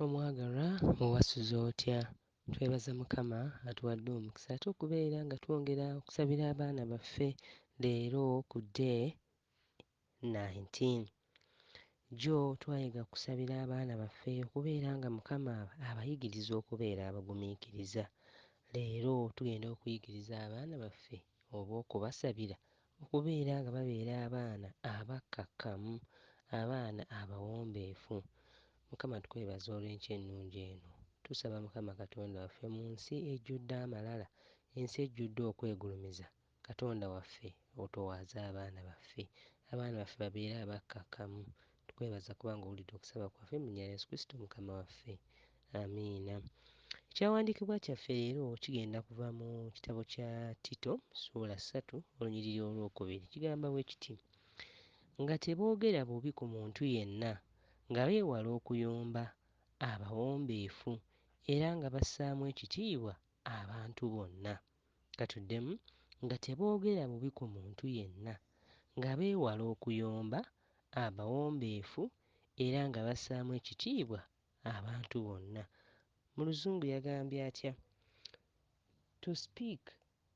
Omwagalwa owasuze otya? Twebaza mukama atuwadde omukisa ate okubeera nga twongera okusabira abaana baffe leero ku day 19. Jjo twayiga kusabira abaana baffe okubeera nga mukama abayigiriza okubeera abagumiikiriza. Leero tugenda okuyigiriza abaana baffe oba okubasabira Okubeera nga babeera abaana abakkakkamu, abaana abawombeefu. Mukama tukwebaza olw'enkya ennungi eno. Tusaba Mukama Katonda waffe mu nsi ejjudde amalala, ensi ejjudde okwegulumiza, Katonda waffe otowaaze abaana baffe. Abaana baffe babeere abakkakkamu, Tukwebaza kubanga owulidde okusaba kwaffe mu nya Yesu Kristo Mukama waffe. Amiina. Ekyawandiikibwa kyaffe leero kigenda kuva mu kitabo kya Tito ssuula ssatu olunyiriri olwokubiri. Kigamba bwe kiti, Nga teboogera bubi ku muntu yenna, nga beewala okuyomba, abawombeefu, era nga bassaamu ekitiibwa abantu bonna. Ka tuddemu, Nga teboogera bubi ku muntu yenna, nga beewala okuyomba, abawombeefu, era nga bassaamu ekitiibwa abantu bonna. Mu Luzungu yagambye atya? To speak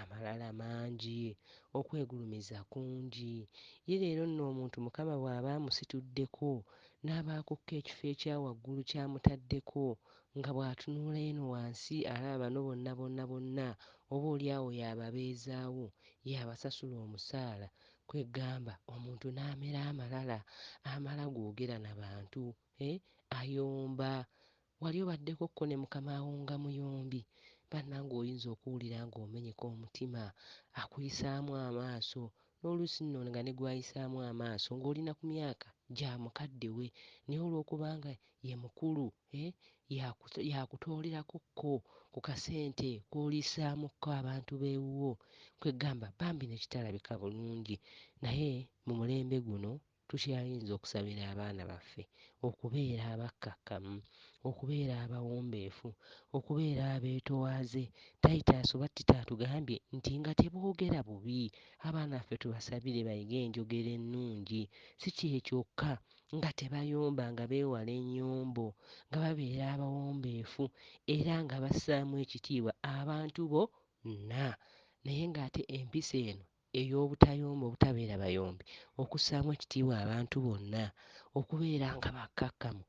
Amalala mangi, okwegulumiza kungi. Ye leero nno omuntu Mukama bw'aba amusituddeko n'aba akukka ekifo ekya waggulu ky'amutaddeko, nga bw'atunula eno wansi alaba bano bonna bonna bonna oba oli awo y'ababeezaawo, y'abasasula omusaala, kwegamba omuntu n'amera amalala, amala googera na bantu, eh, ayomba, Wali obaddeko ko ne mukamaawo nga muyombi banange oyinza okuwulira nga omenyeka omutima akuyisaamu amaaso noluusi nno nga ne gwayisaamu amaaso nga oli na ku myaka gya mukadde we naye olwokuba nga ye mukulu eeh yakutoolerako ko ku kasente koliisaamu ko abantu bewuwo kweggamba bambi ne kitalabika bulungi naye mu mulembe guno Tukyayinza okusabira abaana baffe okubeera abakkakkamu, okubeera abawombeefu, okubeera abeetowaaze. Titus oba Tito atugambye nti nga teboogera bubi. Abaana baffe tubasabire bayige enjogera ennungi. Si kye kyokka, nga tebayomba, nga beewala ennyombo, nga babeera abawombeefu, era nga bassaamu ekitiibwa abantu bo nna. Naye ng'ate empisa eno ey'obutayomba obutabeera bayombi, okussaamu ekitiibwa abantu bonna, okubeera nga bakkakkamu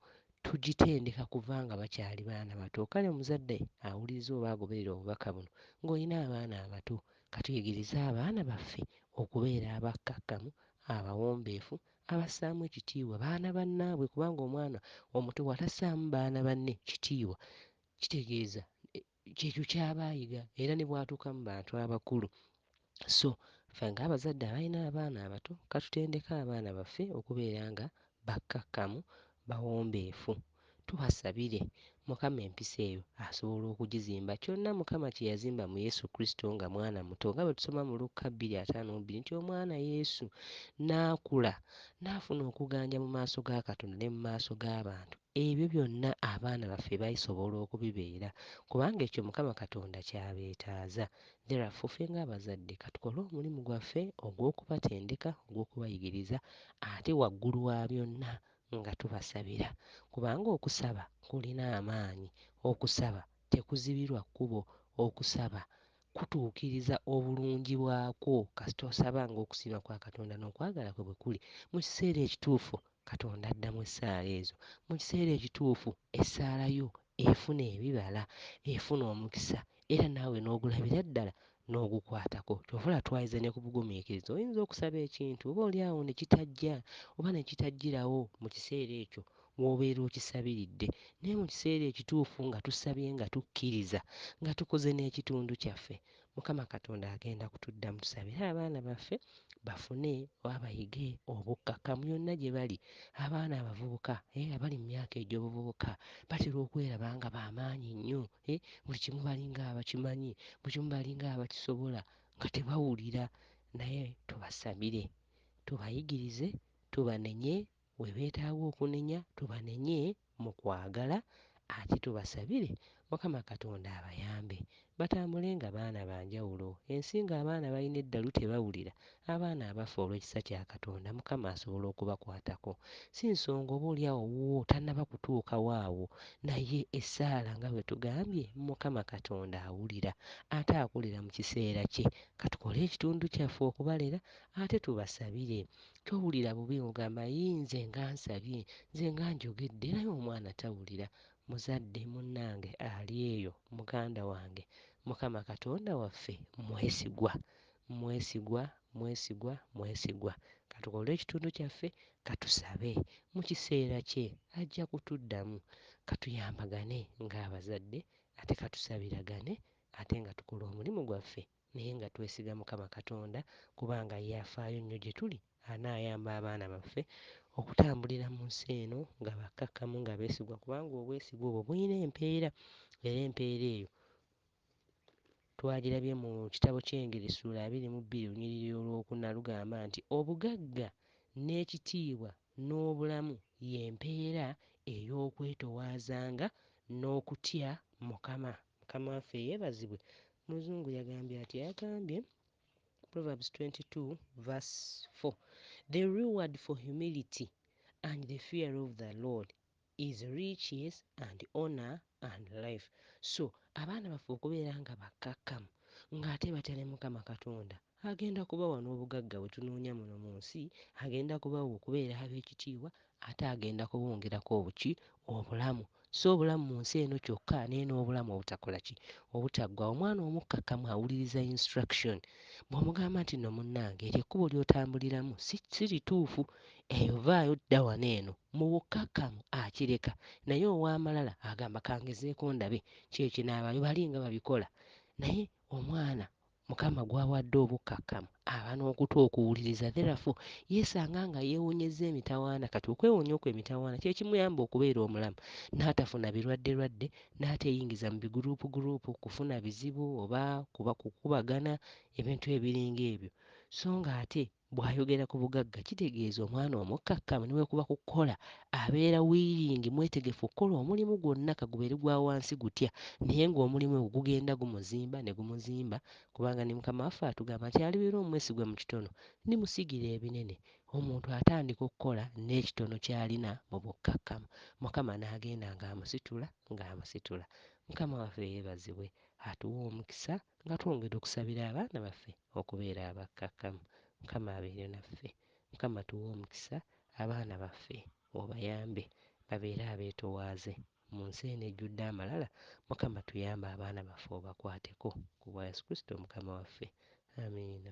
tugitendeka kuva nga bakyali baana bato. Kale omuzadde awuliriza oba agoberera obubaka buno ng'olina abaana abato, ka tuyigirize abaana baffe okubeera abakkakkamu, abawombeefu, abassaamu ekitiibwa baana bannaabwe kubanga omwana omuto bw'atassaamu baana banne kitiibwa kitegeeza kyekyo kyaba ayiga era ne bwatuuka mu bantu abakulu so ffe nga abazadde abalina abaana abato katutendeke abaana baffe okubeera nga bakkakkamu, bawombeefu, tubasabire mukama empisa eyo asobola okugizimba kyonna mukama kyeyazimba mu yesu kristo nga mwana muto nga bwetusoma mu lukka bbiri ataano mu bbiri nti omwana yesu naakula naafuna okuganja mu maaso ga katonda ne mu maaso g'abantu. Ebyo byonna abaana baffe baisobola okubibeera kubanga ekyo Mukama Katonda ky'abeetaaza. Therefore, ffe ng'abazadde katukole omulimu gwaffe ogw'okubatendeka, ogw'okubayigiriza ate waggulu wa byonna nga tubasabira. Kubanga okusaba kulina amaanyi, okusaba tekuzibirwa kkubo, okusaba kutuukiriza obulungi bwakwo kasita osaba ng'okusiima kwa Katonda n'okwagala kwe bwe kuli. Mu kiseera ekituufu, Katonda addamu essaala ezo. Mu kiseera ekituufu, essaala yo efuna ebibala, efuna omukisa, era naawe n'ogulabira ddala n'ogukwatako. Ky'ova olaba twayinza ne ku bugumiikiriza. Oyinza okusaba ekintu oboolyawo ne kitajja oba ne kitajjirawo mu kiseera ekyo w'obeera okisabiridde, naye mu kiseera ekituufu nga tusabye nga tukkiriza, nga tukoze n'ekitundu kyaffe, Mukama Katonda agenda kutuddamu. Tusabire abaana baffe bafune oba bayige obukkakkamu yonna gye bali. Abaana abavubuka, eh, abali mu myaka egy'obuvubuka batera okweraba nga ba maanyi nnyo, eh, buli kimu balinga abakimanyi, buli kimu balinga abakisobola, nga tebawulira. Naye tubasabire, tubayigirize, tubanenye, We beetaaga okunenya tubanenye mu kwagala ate tubasabire Mukama Katonda abayambe batambule nga baana ba njawulo ensi nga abaana balina eddalu tebawulira abaana abafa olw'ekisa kya Katonda Mukama asobola okubakwatako si nsonga oba oli awo wuwo tannaba kutuukawo awo naye essaala nga bwe tugambye Mukama Katonda awulira ate akolera mu kiseera kye katukole ekitundu kyaffe okubalera ate tubasabire towulira bubi ng'ogamba yii nze nga nsabye, nze nga njogedde era ye omwana tawulira. Muzadde munnange ali eyo, muganda wange, Mukama Katonda waffe mwesigwa. Mwesigwa, mwesigwa, mwesigwa. Ka tukole ekitundu kyaffe, ka tusabe. Mu kiseera kye, ajja kutuddamu. Ka tuyambagane ng'abazadde, ate ka tusabiragane, ate nga tukola omulimu gwaffe naye nga twesiga Mukama Katonda kubanga ye afaayo nnyo gye tuli anaayamba abaana baffe okutambulira mu nsi eno nga bakkakkamu nga beesigwa kubanga obwesigwa obwo bulina empeera era empeera eyo twagirabye mu kitabo ky'Engeri ssuula abiri mu bbiri olunyiriri olwokuna lugamba nti obugagga n'ekitiibwa n'obulamu y'empeera ey'okwetowaazanga n'okutya Mukama. Mukama waffe yebazibwe muzungu yagambye atya yagambye Proverbs 22 verse 4 the reward for humility and the fear of the Lord is riches and honor and life so abaana baffe okubeera nga bakkakkamu ng'ate batya ne Mukama Katonda Agenda kubawa n'obugagga bwe tunoonya muno mu nsi, agenda kubawa okubeera ab'ekitiibwa, ate agenda kubongerako obuki? Obulamu. Si obulamu mu nsi eno kyokka, naye n'obulamu obutakola ki? Obutaggwaawo. Omwana omukkakkamu awuliriza instruction. Bw'omugamba nti, Nno munnange, eryo ekkubo ly'otambuliramu si, si lituufu. Eyo, vaayo, dda wano eno. Mu bukkakkamu akireka. Naye ow'amalala agamba, Ka ngezeeko ndabe, ki ekinaabayo. Bali nga babikola. Naye omwana Mukama gw'awadde obukkakkamu aba n'okutu okuwuliriza. Therefore, yeesanga nga yeewonyezza emitawaana. Kati okwewonya okwo emitawaana kye kimuyamba okubeera omulamu, n'atafuna birwadderwadde, n'ateeyingiza mu biguruupuguruupu, kufuna bizibu oba kuba kukubagana, ebintu ebiringa ebyo. So nga ate Bw'ayogera ku bugagga kitegeeza omwana omukkakkamu ne bwe kuba ku kukola abeera wiiringi, mwetegefu okukola omulimu gwonna ka gubeere gwa wansi gutya naye ng'omulimu ogwo gugenda gumuzimba ne gumuzimba kubanga ne Mukama waffe atugamba nti alibeera omwesigwa mu kitono ndimusigira ebinene. Omuntu atandika okukola n'ekitono ky'alina mu bukkakkamu Mukama n'agenda ng'amusitula ng'amusitula. Mukama waffe yeebazibwe atuwa omukisa nga twongera okusabira abaana baffe. okubeera abakkakkamu mukama abeere naffe mukama tuwe omukisa abaana baffe obayambe babeere abetowaaze munsi eno ejjudde amalala mukama tuyambe abaana baffe obakwateko kubwa yesu kristo mukama waffe Amiina.